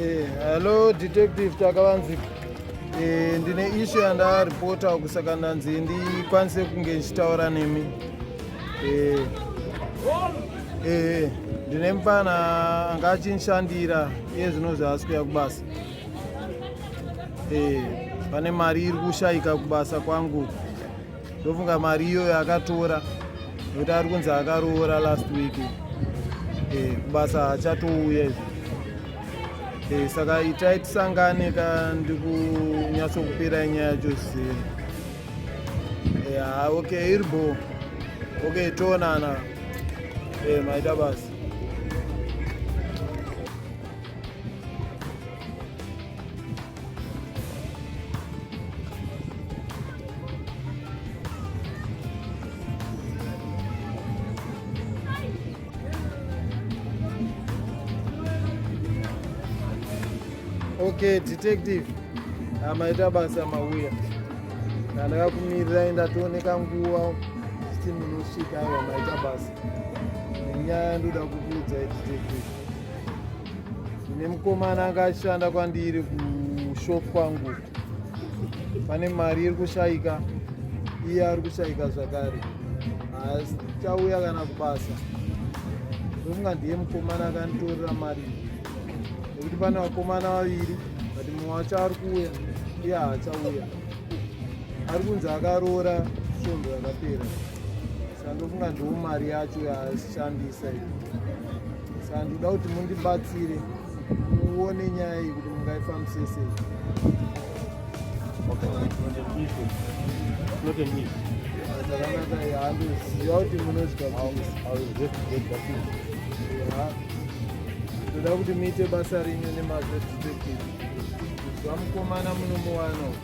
Eh, hello detective takavanzika eh, ndine ishu yandaripota kusaka ndanzi ndikwanise kunge ndichitaura nemi eh, ndine mupana anga achinshandira iye zvinozvi asi kuya kubasa Eh, pane mari iri kushaika kubasa kwangu ndofunga mari iyoyo akatora nekuti ari kunzi akaroora last week eh, kubasa hachatouya izvi eh, saka itai tisangane ka ndikunyatsokupirai nyaya yacho zviseri ya ok iri bo ok toonana maita basa Okay, detective amaita basa mauya ndandakakumirirai ndatooneka nguva siti munosvika aiwa maita basa nenyaya ndoda kukuudzai detective Ine mukomana anga achishanda kwandiri kushop kwangu, pane mari iri kushaika, iye ari kushaika zvakare, achauya kana kubasa. Ndofunga ndiye mukomana akanditorera mari nekuti pane vakomana vaviri but mumwe wacho ari kuuya iye haachauya ari kunzi akaroora svondo rakapera Ndofunga ndiwo mari yacho yashandisa saka ndikuda kuti mundibatsire muone nyaya iyi kuti mungaifambise sei zvakanaka handoziva kuti munozvitoda kuti muite basa renyu nemazvo detective zvamukomana munomuwana uku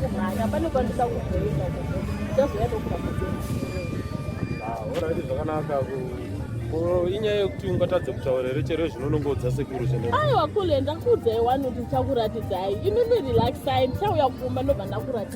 kumhanya panokwanisa kuzoita chazoya ndokuaorati ah, zvakanaka inyaya yekuti ungatadze kutaura here chero zvino unonge udza sekuru zvene aiwa kule ndakuudzai wani kuti ndichakuratidzai imimi relaxai ndichauya kumba ndobva ndakuratidza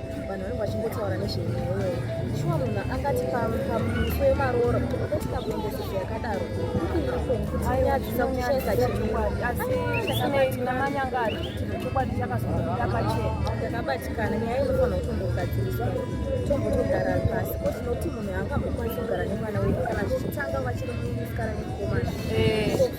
vanhu vanenge vachingotaura nezvenyaya iyoyo shuwa munhu angati pamuso yemaroora kuti ukatika kuendesesa yakadaro ukuiiakunyadzisa kuchaisa chiiasinamanyangari chokwadi chakazodakachena ndakabatikana nyaya inofanira kutombogadziriswa tombotogara pasi ko tinoti munhu angambokwanisa kugara nemwana wedu kana zvichitanga vachiri musikana nemukomana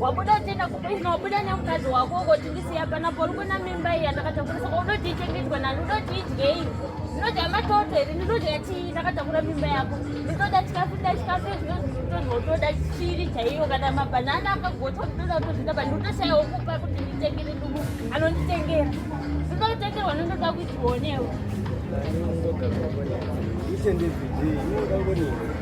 wabuda uchienda kubusiness wabuda nemukadzi wako ukoti ndisiya panapo uri kuna mimba iya ndakatakurisa ko unoti ichengetwe nani unoti idyei ndinodya matoto here ndinodya chii ndakatakura mimba yako ndinoda chikafu nda chikafu ezvinozvinotonzi unotoda chiri chaiyo kana mabhanana akagotwa ndinoda kutozvita pa ndinotoshayawo kupa kuti nditengere nduku anonditengera ndinotengerwa ndinoda kuchionewo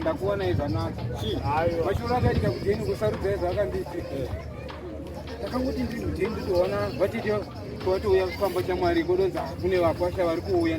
ndakuona izvanaka mashura akaita kudeni kusarudza izvaakanditi ndakanguti ndiri mudeni nditoona vatiti kwatouya kufamba chamwari kodonzi kune vakwasha vari kuuya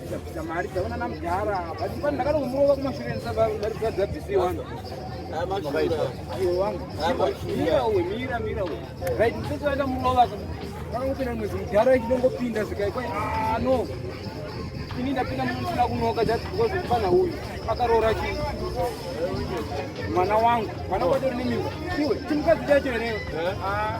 mari dzaona namudhara but pano ndakatomurowa kumashure ndisababisiwa ayo wangu mira uwe mira mira uwe right msese waenda murova ndakangopinda mwedzi mudhara ichinongopinda zvikai kwai ah, no ini ndapinda musina kunoka just because mfana uyu akaroora chii mwana wangu mwana kwatori nemimba iwe chimukadzi chacho here ah.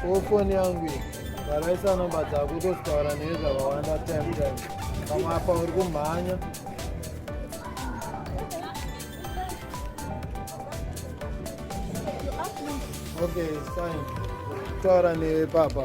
Ko foni yangu iyi ndaraisa nomba dzako tozitaura neye zvakawanda time time pamwe apa uri kumhanya okay fine taura newe papa